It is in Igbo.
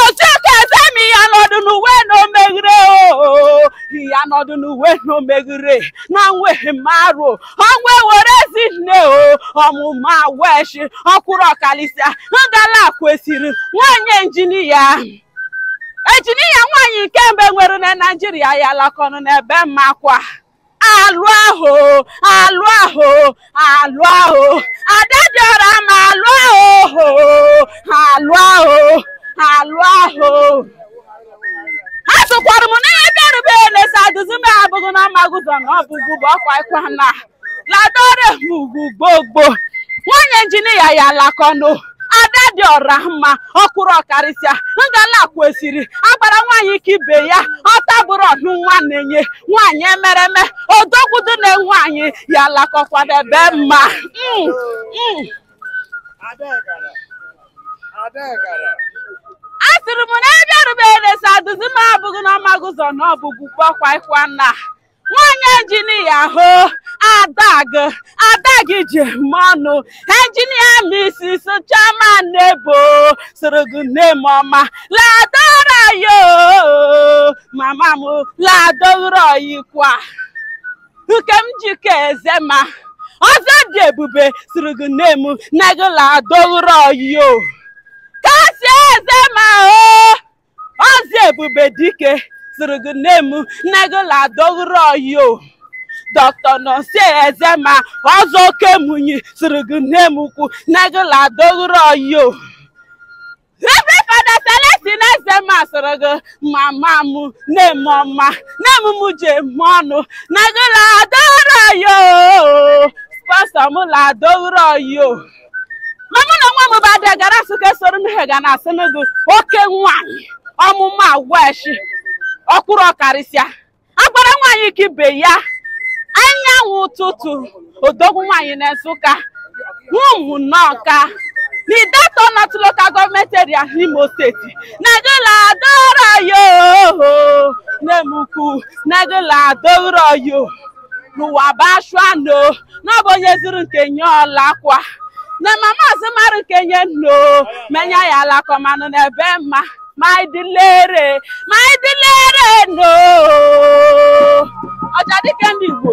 Ozioko Ezema ya nọdụ n'uwe na omeghere oo ya nọdụ n'uwe na omeghere na nweghị m arụ ọnwa were ezi nne o ọmụma weshi ọkwụrụ ọkalịsịa ngala kwesịrị nwanyị injinia injinia nwaanyị nke mbụ e nwere na naijiria ya lakọnụ n'ebe mmakwa alụ ahụ alụ ahụ alụ ahụ ada dị ọra mma alụ ahụ alụ ahụ alụ ahụ ha sụkwara m n'ihe bịarube elesa duzi m abụghị na magụzọ na ọbụgụ bụ ọkwa ịkwa na ladore m ugwu gbogbo nwanyị injinia ya lakọnụ ada dị ọra mma ọkwụrụ ọkarịsịa ngala kwesịrị agbara nwaanyị ka ibe ya ọta bụrụ ọnụ nwa na-enye nwaanyị emereme odogwu dị na nwaanyị ya lakọkwa debe mma a sịrị m na ebe erubere sa duzi m abụghị na ọmagụzọ na ọbụgwu gbakwaikwa na nwanyị injinia o ada gị ada gị ji eme ọnụ injinia misis Chioma Nebo sịrị gị nne m ọma ladoro ọyị o mama m ladoro ọyịkwa Nkemjika Ezema ọzọ dị ebube sịrị gị nne m na gị ladoro ọyị o Kasi Ezema o Ọzọ Ebube Dike sịrị gị nne m na gị ladoro ọyị o Dr. Nonso Ezema ọzọ oke munyi sịrị gị nne m ukwu na gị ladoro ọyị o Reverend Fada Celestine Ezema sịrị gị mama m nne m ọma nne m m ji eme ọnụ na gị ladoro ọyị o spọnsọ m ladoro ọyị o ma mụ na nwa m bụ ada gara asụ ka esoro nne ha ga na-asịnụ gị oke nwaanyị ọmụma agwa eshi ọkwụrụ ọkarịsịa agbara nwaanyị ka ibe ya anyanwụ ụtụtụ odogwu nwaanyị na nsụka ụmụ n'ọka na Ideatọ nọtụ lokal gọọmenti eria n'imo steeti na gị ladoro ọyị o nne m ukwu na gị ladoro ọyị o n'ụwa bụ ashụa nọ na ọ bụ onye zụrụ nke nye ọ lakwa na mama azụmarụ nke nye nno menye ya alakọ manụ na ebe mma ma ịdịlere ma ịdịlere no ọja dike ndị Igbo